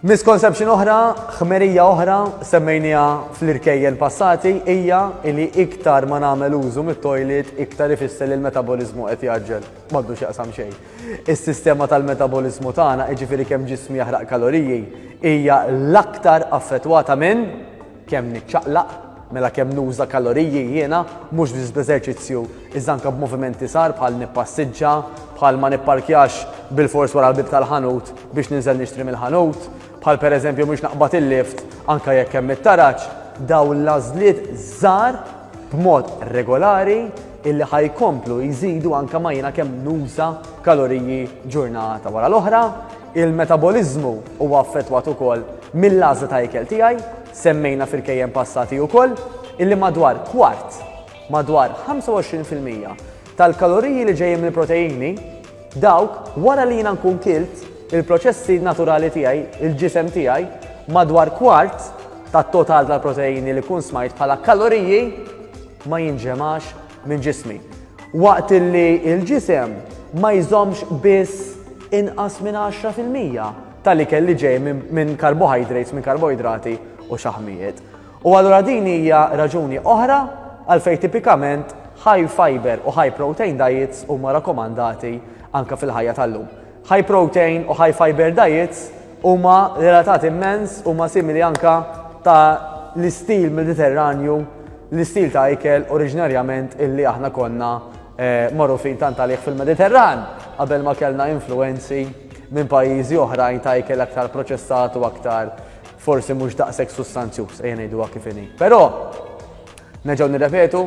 Misconception oħra, ħmerija oħra, semmejniha fl-irkejjen passati, hija li iktar ma nagħmel użu mit-toilet iktar ifisser li l-metaboliżmu qed jaġġel. M'għaddu x'jaqsam xejn. Is-sistema tal-metaboliżmu tagħna, jiġifieri kemm ġismi jaħraq kaloriji, hija l-aktar affettwata minn Kemm niċċaqlaq, mela kemm nuża kaloriji jiena, mhux biss bl-eżerċizzju iżda anke b'moviment iesgħar bħal nippassiġġa, bħal ma nipparkjax bilfors wara l-bieb tal-ħanut biex ninżel nixtri mill-ħanut, bħal pereżempju mhux naqbad il-lift anke jekk hemm it-taraġ, dawn l-għażliet żgħar b'mod regolari illi ħa jkomplu jżidu anke ma jiena kemm nuża kaloriji ġurnata wara l-oħra, Il-metaboliżmu huwa affettwat ukoll mill-għażla ta' ikel tiegħi, semmejna f'irkejjen passati ukoll illi madwar kwart, madwar 25 fil-mija, tal-kaloriji li ġejjin mill-proteini, dawk wara li jiena nkun kilt, il-proċessi naturali tiegħi, il-ġisem tiegħi, madwar kwart tat-total tal-proteini li kun smajt bħala kaloriji ma jinġemax minn ġismi. Waqt li l-ġisem ma jżommx biss inqas minn 10% tal-ikel li ġej minn carbohydrates, minn karboidrati u xaħmijiet. U allura din hija raġuni oħra għalfejn tipikament high fiber u high protein diets huma rakkomandati anke fil-ħajja tal-lum. High protein u high fiber diets huma relatati immens, huma simili anke ta' l-istil Mediterranju, l-istil ta' ikel oriġinarjament illi aħna konna magħrufin tant għalih fil-Mediterran qabel ma kellna influwenzi minn pajjiżi oħrajn ta' ikel aktar proċessat u aktar forsi mhux daqshekk sustanzjuż, ejja ngħiduha kif inhi. Però neġgħu nirrepetu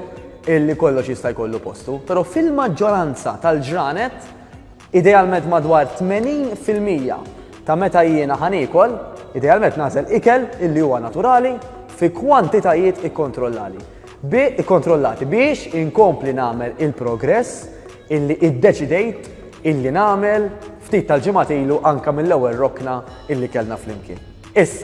illi kollox jista' jkollu postu, però fil-maġġoranza tal-ġranet Idealment madwar 80 fil-mija ta' meta jiena ħa niekol, idealment nagħżel ikel illi huwa naturali fi kwantitajiet ikkontrollali bi ikkontrollati biex inkompli nagħmel il-progress illi iddeċidejt illi nagħmel ftit tal-ġimgħat ilu anke mill-ewwel rokna illi kellna flimkien. Issa.